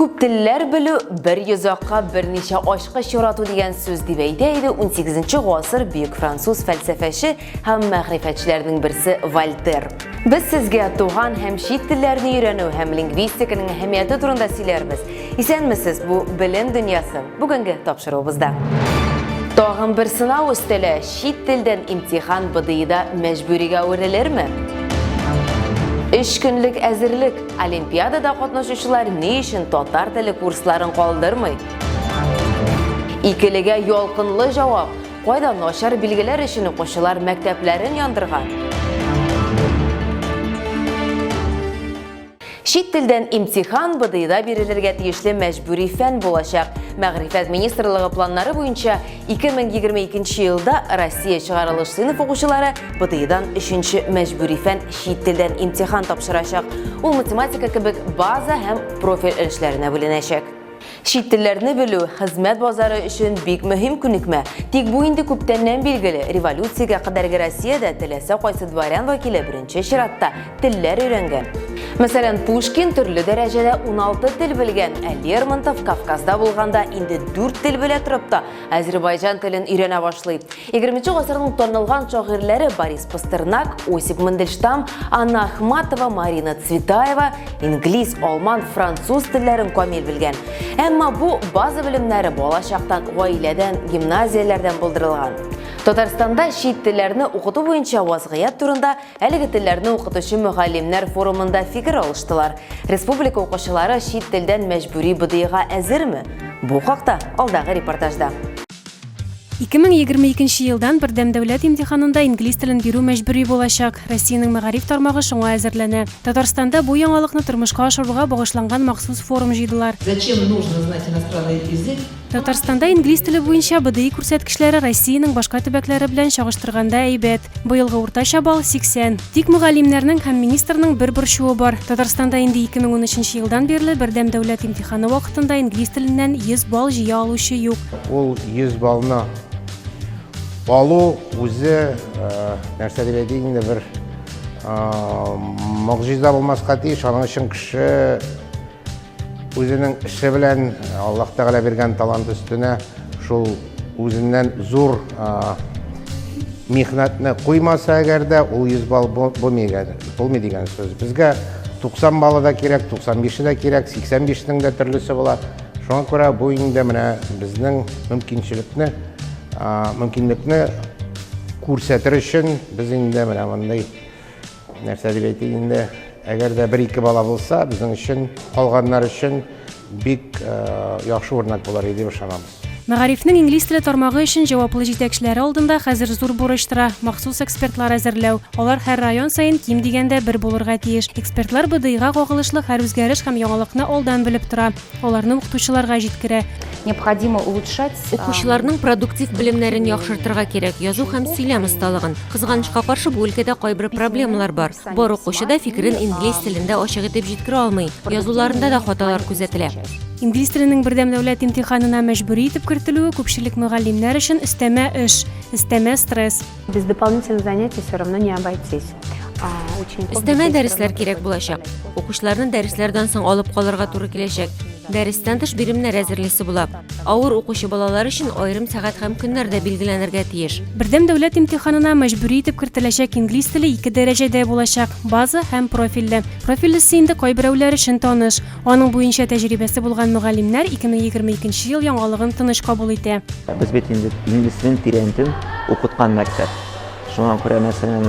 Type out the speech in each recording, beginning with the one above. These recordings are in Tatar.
Күп телләр белү, бер йозакка берничә ачкыч ярату дигән сүз дип әйтә иде 18 гасыр бөек француз фәлсәфәче һәм мәгърифәтчеләрнең берсе Вольтер. Без сезгә туган һәм чит телләрне өйрәнү һәм лингвистиканың әһәмияте турында сөйләрбез. Исәнмесез, бу белем дөньясы бүгенге тапшыруыбызда. Тагын бер сынау өстәле, чит телдән имтихан БДИда мәҗбүригә әверелерме? Өч көнлек әзерлек Олимпиадада катнашучылар ни өчен татар теле курсларын калдырмый? Икелегә ялкынлы җавап. Кайда начар билгеләр өчен укучылар мәктәпләрен яндырган? Чит телдән имтихан БДИда бирелергә тиешле мәҗбүри фән булачак. Мәгърифәт министрлыгы планнары буенча 2022 елда Россия чыгарылыш сыйныф укучылары БТИдан 3-нче мәҗбүри фән чит телдән имтихан тапшырачак. Ул математика кебек база һәм профиль өлешләренә бүленәчәк. Чит телләрне белү хезмәт базары өчен бик мөһим күнекмә. Тик бу инде күптәннән билгеле. Революциягә кадәрге Россиядә теләсә кайсы дворян вәкиле беренче чиратта телләр өйрәнгән. Мәсәлән, Пушкин төрле дәрәҗәдә 16 тел белгән, ә Лермонтов Кавказда булганда инде 4 тел белә торып та азербайҗан телен өйрәнә башлый. 20 гасырның танылган шагыйрьләре Борис Пастернак, Осип Мандельштам, Анна Ахматова, Марина Цветаева инглиз, алман, француз телләрен камил белгән. Әмма бу база белемнәре бала чактан гаиләдән, гимназияләрдән булдырылган. Татарстанда чит телләрне укыту буенча вазгыять турында Әлеге телләрне укытучы мөгаллимнәр форумында фикер алыштылар. Республика укучылары чит телдән мәҗбүри БДИга әзерме? Бу хакта алдагы репортажда. 2022 елдан бердәм дәүләт имтиханында инглиз телен бирү мәҗбүри булачак. Россиянең мәгариф тармагы шуңа әзерләнә. Татарстанда бу яңалыкны тормышка ашыруга багышланган махсус форум җыйдылар. Зачем нужно знать иностранный язык? Татарстанда инглиз теле буенча БДИ күрсәткечләре Россиянең башка төбәкләре белән чагыштырганда әйбәт. Быелгы уртача балл 80. Тик мөгаллимнәрнең һәм министрның бер борчуы бар. Татарстанда инде 2013 елдан бирле бердәм дәүләт имтиханы вакытында инглиз теленнән 100 балл җыя алучы юк. Ул 100 баллны алу үзе нәрсә дип әйтик инде бер могҗиза булмаска тиеш. Аның өчен кеше Үзенең эше белән, Аллаһ Тәгалә биргән талант өстенә шул үзеннән зур михнәтне куймаса әгәр дә, ул 100 балл булмый дигән сүз. Безгә 90 баллы да кирәк, 95 дә кирәк, 85-нең дә төрлесе була. Шуңа күрә бу инде менә безнең мөмкинчелекне, мөмкинлекне күрсәтер өчен без инде менә мондый Нәрсә дип әйтик инде, әгәр дә бер-ике бала булса, безнең өчен, калганнар өчен бик яхшы үрнәк булыр иде дип ышанабыз. Мәгарифнең инглиз теле тармагы өчен җаваплы җитәкчеләре алдында хәзер зур бурыч тора, махсус экспертлар әзерләү. Алар һәр район саен ким дигәндә бер булырга тиеш. Экспертлар БДИга кагылышлы һәр үзгәреш һәм яңалыкны алдан белеп тора. Аларны укытучыларга җиткерә. Необходимо улучшать. Э, Укучыларның продуктив белемнәрен яхшыртырга кирәк, язу һәм сөйләм осталыгын. Кызганычка каршы, бу өлкәдә кайбер проблемалар бар. Бар укучы да фикерен инглиз телендә ачык итеп җиткерә алмый. Язуларында да хаталар күзәтелә. Инглиз теленең бердәм дәүләт имтиханына мәҗбүри итеп кертелүе күпчелек мөгаллимнәр өчен өстәмә эш, өстәмә стресс. Без дополнительных занятий все равно не обойтись. Өстәмә дәресләр кирәк булачак. Укучыларны дәресләрдән соң алып калырга туры киләчәк. Дәрестән тыш биремнәр әзерлисе була. Авыр укучы балалар өчен аерым сәгать һәм көннәр дә билгеләнергә тиеш. Бердәм дәүләт имтиханына мәҗбүри итеп кертеләчәк инглиз теле ике дәрәҗәдә булачак, база һәм профильле. Профильлесе инде кайберәүләр өчен таныш. Аның буенча тәҗрибәсе булган мөгаллимнәр 2022 ел яңалыгын тыныч кабул итә. Без бит инде инглиз телен тирәнтен укыткан мәктәп. Шуңа күрә, мәсәлән,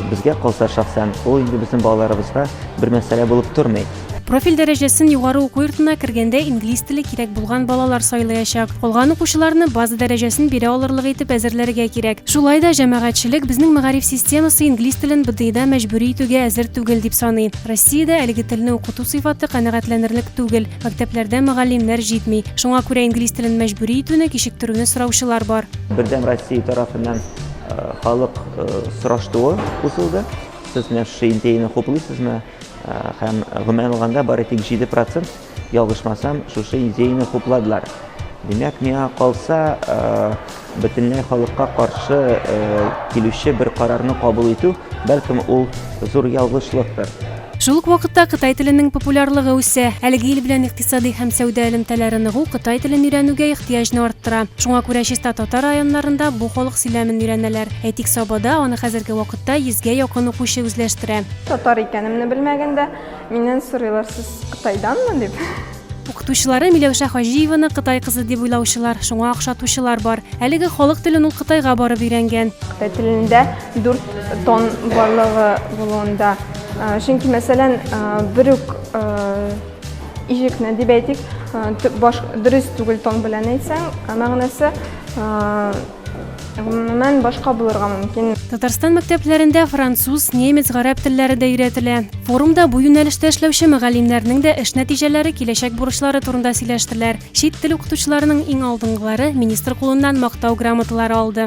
безгә калса шәхсән, ул инде безнең балаларыбызга бер мәсьәлә булып тормый. Профиль дәрәҗәсен югары уку йортына кергәндә инглиз теле кирәк булган балалар сайлыячак. Калган укучыларны база дәрәҗәсен бирә алырлык итеп әзерләргә кирәк. Шулай да җәмәгатьчелек безнең мәгариф системасы инглиз телен БДИда мәҗбүри итүгә әзер түгел дип саный. Россиядә әлеге телне укыту сыйфаты канәгатьләнерлек түгел, мәктәпләрдә мөгаллимнәр җитми. Шуңа күрә инглиз телен мәҗбүри итүне кичектерүне сораучылар бар. Бердәм Россия тарафыннан халык сораштуы узылды. Сез менә шушы идеяне хуплыйсызмы? Һәм гомумән алганда бары тик 7 процент Ялгышмасам, шушы идеяне хупладылар. Димәк, миңа калса, бөтенләй халыкка каршы килүче бер карарны кабул итү, бәлкем, ул зур ялгышлыктыр. Шул ук вакытта кытай теленең популярлыгы үсә. Әлеге ил белән икътисади һәм сәүдә элемтәләре ныгу кытай телен өйрәнүгә ихтыяҗны арттыра. Шуңа күрә чиста татар районнарында бу халык сөйләмен өйрәнәләр. Әйтик, Сабада аны хәзерге вакытта йөзгә якын укучы үзләштерә. Татар икәнемне белмәгәндә, Миннән сорыйлар, сез Кытайданмы дип. Укытучылары Миләүшә Хаҗиеваны Кытай кызы дип уйлаучылар, шуңа охшатучылар бар. Әлеге халык телен ул Кытайга барып өйрәнгән. Кытай телендә дүрт тон барлыгы булуында. Э, чөнки, мәсәлән, э, бер үк э, ижекне дип әйтик, дөрес түгел тон белән әйтсәң, мәгънәсе Гомумән, башка булырга мөмкин. Татарстан мәктәпләрендә француз, немец, гарәп телләре дә өйрәтелә. Форумда бу юнәлештә эшләүче мөгаллимнәрнең дә эш нәтиҗәләре, киләчәк бурычлары турында сөйләштеләр. Чит тел укытучыларының иң алдынгылары министр кулыннан Мактау грамоталары алды.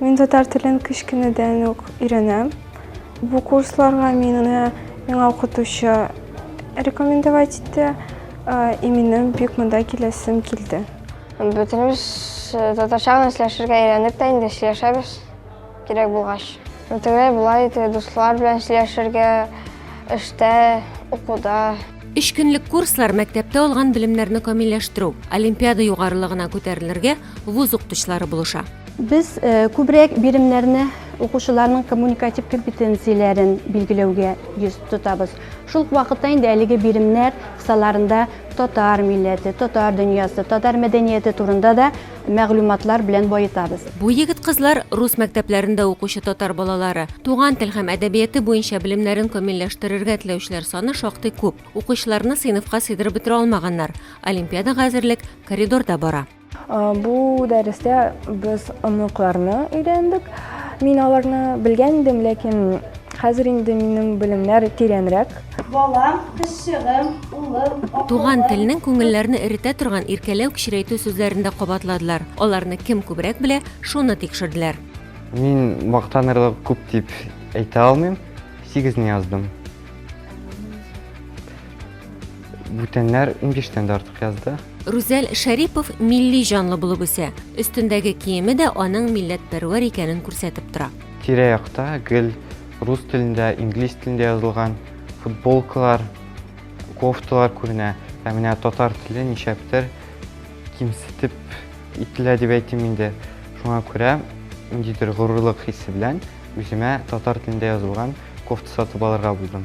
Мин татар телен кечкенәдән үк өйрәнәм. Бу курсларга мине миңа укытучы рекомендовать итте. И минем бик монда киләсем килде. Бөтенебез э, татарча гына сөйләшергә өйрәндек тә инде сөйләшәбез кирәк булгач. Тегеләр болай итә, дуслар белән сөйләшергә, эштә, укуда. Өч көнлек курслар мәктәптә алган белемнәрне камилләштерү, олимпиада югарылыгына күтәрелергә, вуз укытучылары булыша. Без күбрәк биремнәрне укучыларның коммуникатив компетенцияләрен билгеләүгә йөз тотабыз. Шул ук вакытта инде әлеге биремнәр кысаларында татар милләте, татар дөньясы, татар мәдәнияте турында да мәгълүматлар белән баетабыз. Бу егет-кызлар рус мәктәпләрендә укучы татар балалары. Туган тел һәм әдәбияты буенча белемнәрен камилләштерергә теләүчеләр саны шактый күп. Укучыларны сыйныфка сыйдырып бетерә алмаганнар. Олимпиадага әзерлек коридорда бара. Бу дәрестә без оныкларны өйрәндек. Мин аларны белгән идем, ләкин хәзер инде минем белемнәр тирәнрәк. Балам, кызчыгым, улым, Туган телнең күңелләрне эретә торган иркәләү кечерәйтү сүзләрен дә кабатладылар. Аларны кем күбрәк белә, шуны тикшерделәр. Мин мактанырлык күп дип әйтә алмыйм, сигезне яздым. Бүтәннәр иңгештән дә артык язды. Рүзәл Шәрипов милли җанлы булып үсә. Өстендәге киеме дә аның милләтпәрвәр икәнен күрсәтеп тора. Тирә-якта гел рус телендә, инглиз телендә язылган футболкалар, кофталар күренә. Ә менә татар теле ничәктер кимсетеп ителә дип әйтим инде. Шуңа күрә ниндидер горурлык хисе белән үземә татар телендә язылган кофта сатып алырга булдым.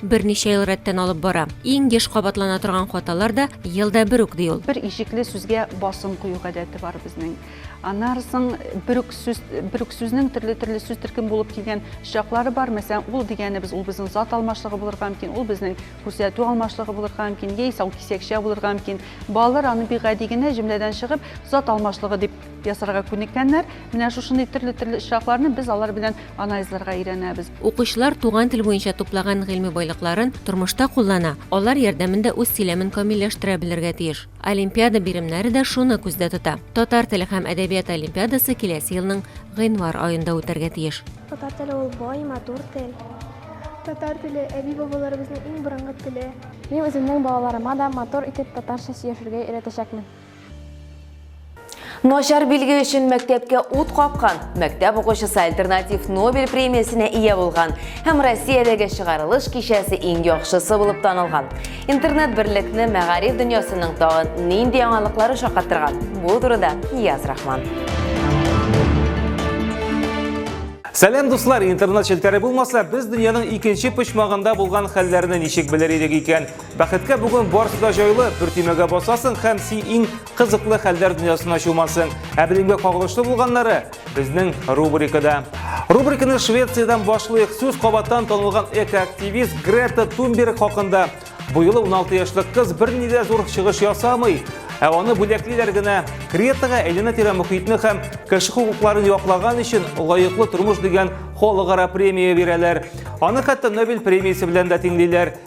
Берничә ел рәттән алып бара. Иң еш кабатлана торган хаталар да елда бер үк, ди ул. Бер ишекле сүзгә басым кую гадәте бар безнең. Анарсың бер үк сүз, бер үк сүзнең төрле-төрле сүз төркем булып килгән чаклары бар. Мәсәлән, ул дигәнебез, ул безнең зат алмашлыгы булырга мөмкин, ул безнең күрсәтү алмашлыгы булырга мөмкин, яисә ул кисәкчә булырга мөмкин. Балалар аны бик гади генә җөмләдән чыгып, зат алмашлыгы дип ясарга күнеккәннәр. Менә шушындый төрле-төрле очракларны без алар белән анализларга өйрәнәбез. Укучылар туган тел буенча туплаган гыйльме байлыкларын тормышта куллана, алар ярдәмендә үз сөйләмен камилләштерә белергә тиеш. Олимпиада биремнәре дә шуны күздә тота. Татар теле һәм әдәбияты олимпиадасы киләсе елның гыйнвар аенда үтәргә тиеш. Татар теле ул бай, матур тел. Татар теле әби-бабаларыбызның иң борынгы теле. Мин үземнең балаларыма да матур итеп татарча сөйләшергә өйрәтәчәкмен. Начар билге өчен мәктәпкә ут капкан, мәктәп укучысы альтернатив Нобель премиясенә ия булган һәм Россиядәге чыгарылыш кичәсе иң яхшысы булып танылган. Интернет берлекне мәгариф дөньясының тагын нинди яңалыклары шаккатырган? Бу турыда Нияз Рахман. Сәлам дуслар, интернет челтәре булмаса, без дөньяның икенче почмагында булган хәлләрне ничек белер идек икән? Бәхеткә бүген барысы да җайлы, бер төймәгә басасың һәм си иң кызыклы хәлләр дөньясына чумасың. Ә белемгә кагылышлы булганнары безнең рубрикада. Рубриканы Швециядән башлыйк. Сүз кабаттан танылган экоактивист Грета Тунберг хакында. Бу юлы 16 яшьлек кыз берни дә зур чыгыш ясамый, ә аны бүләклиләр генә. Гретага әйләнә-тирә мөхитне һәм кеше хокукларын яклаган өчен лаеклы тормыш дигән халыкара премия бирәләр. Аны хәтта Нобель премиясе белән дә тиңлиләр.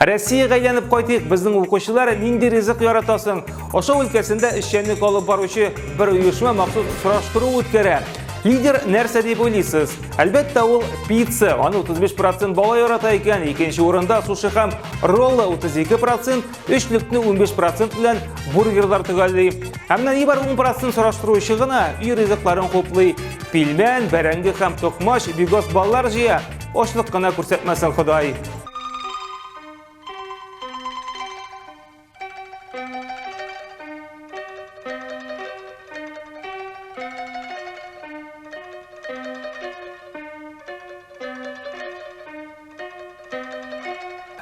Россиягә әйләнеп кайтыйк, безнең укучылар нинди ризык ярата соң? Ашау өлкәсендә эшчәнлек алып баручы бер оешма махсус сораштыру үткәрә. Лидер нәрсә дип уйлыйсыз? Әлбәттә, ул пицца. Аны 35% бала ярата икән, икенче урында суши һәм роллы 32%, өчлекне 15% белән бургерлар төгәлли. Ә менә нибар 10% сораштыручы гына өй ризыкларын хуплый. Пилмән, бәрәңге һәм токмач бигос баллар җыя. Очлык кына күрсәтмәсен Ходай.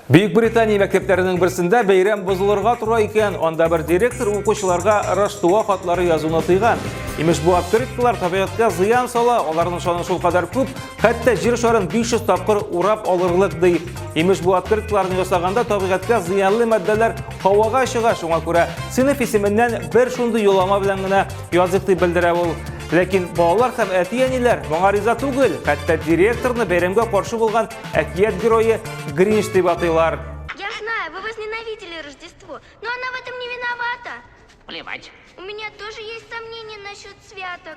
Бөек Британия мәктәпләренең берсендә бәйрәм бозылырга тора икән, анда бер директор укучыларга Раштуа хатлары язуны тыйган. Имеш бу открыткалар табигатькә зыян сала, аларның шаны шул кадәр күп, Хәтта җир шарын 500 тапкыр урап алырлык ди. Имеш бу открыткаларны ясаганда табигатькә зыянлы матдәләр һавага чыга, шуңа күрә сыйныф исеменнән бер шундый юллама белән генә языйк дип белдерә ул. Ләкин балалар һәм әти-әниләр моңа риза түгел, хәтта директорны бәйрәмгә каршы булган әкият герое Гринч дип атыйлар. Я знаю, вы возненавидели Рождество, но она в этом не виновата. Плевать. У меня тоже есть сомнения насчет святок.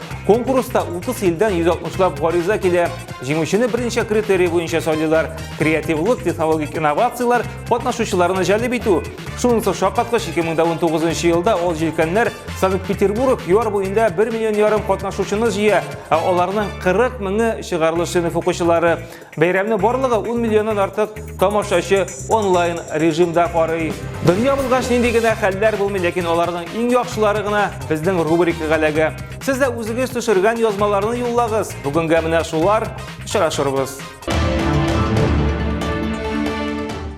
Конкурста 30 илдән 160 лап гариза килә. Җиңүчене берничә критерий буенча сайлыйлар. Креативлык, технологик инновацияләр, катнашучыларны җәлеп итү. Шунысы шаккаткыч 2019 елда ул җилкәннәр Санкт-Петербург ЮАР буенда 1 миллион ярым катнашучыны җыя, ә аларның 40 меңе чыгарылыш сыйныф укучылары. Бәйрәмне барлыгы 10 миллионнан артык тамашачы онлайн режимда карый. Дөнья булгач нинди генә хәлләр булмый, ләкин аларның иң яхшылары гына безнең рубрикага эләгә. Сез дә үзегез төшергән язмаларны юллагыз. Бүгенгә менә шулар. Очрашырбыз.